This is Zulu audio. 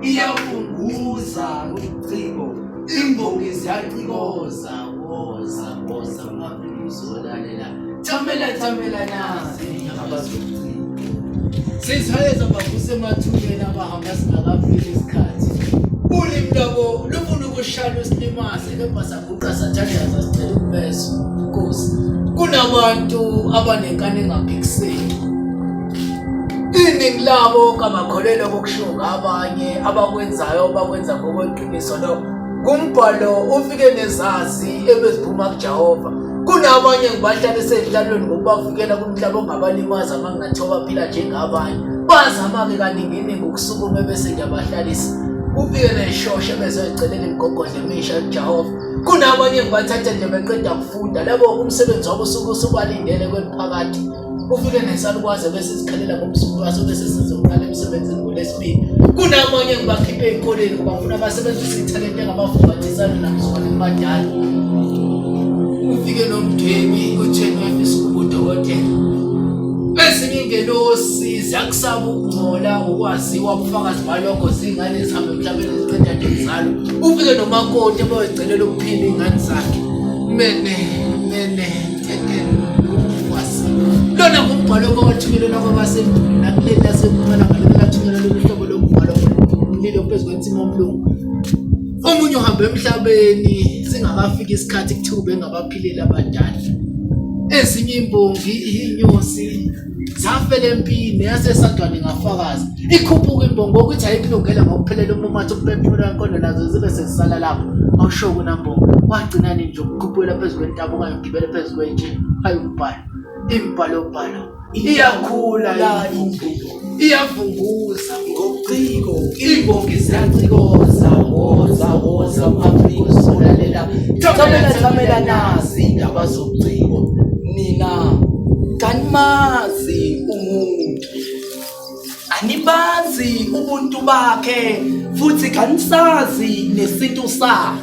iyafunguza ucingo imbongi ziyacikoza woza woza mafuzolalela thamela thamela nazi abazocinga sizihayeza bavuse emathubeni abahamba singakafiki isikhathi ulimi lwabo lufuna ukushaya lusilimase kepha Uqasathandaza sicela ukumeza inkosi. Kunabantu abanenkani engaphikiseki. Iningi labo kamakholelo kokushiwo ngabanye abakwenzayo bakwenza ngokweqiniso lo kumbhalo ufike nezazi ebeziphuma kuJehova kunabanye ngibahlala esedlalweni ngokubavikela kumhlaba ongabalimaza uma ngingathiwa baphila njengabanye bazama-ke kaninginingi ukusukuma ebese ngiyabahlalisa kufike neshosha bezoyicelela imigogodla Misha Jehova kunabanye ngibathatha nje beqeda kufunda labo umsebenzi wabo usuke usubalindele kweliphakathi ufike nesalukwazi bese sikhalela ngomsuku waso bese sizoqala emsebenzini ngolesibili kunamanye ngibakhiphe ey'koleni ngoba ngifuna abasebenzise ithalente engabafubathisana namsukwane kubadala ufike nomdwebi kuthenwefi sikubudokotela ezinye ingelosi ziyakusaba ukungcola ukwaziwa ubufakazi balokho zingane zihambe emhlabeni ziqeda nje zalo ufike nomakoti abayocelela ukuphila iy'ngane zakhe mene mene lona ngumbhalo kwawathunyelelwa kwabasendulo nakuleli lasempumalanga lelo lathunyelwa lolu hlobo lombhalo mlilo phezu kwensima omlungu omunye uhambe emhlabeni singakafiki isikhathi kuthiwa ubengabaphileli abadala ezinye imbongi inyosi safela empini yasesadwane ngafakaza ikhuphuka imbongo ukuthi ayikulungele ngokuphelela umumathi ukuphefumula wenkondo nazo zibe sezisala lapho awusho kunambongo wagcinani nje ukukhuphukela phezu kwentaba okanye ugibele phezu kwetshe hayi umbhalo imbhalobhalo iyakhula iyavunguza ngobuciko imbongi ziyacikoza woza woza u-afrika uzolalela thamela thamela nazi indaba zobuciko nina kanimazi umuntu anibazi ubuntu bakhe futhi kanisazi nesintu sakhe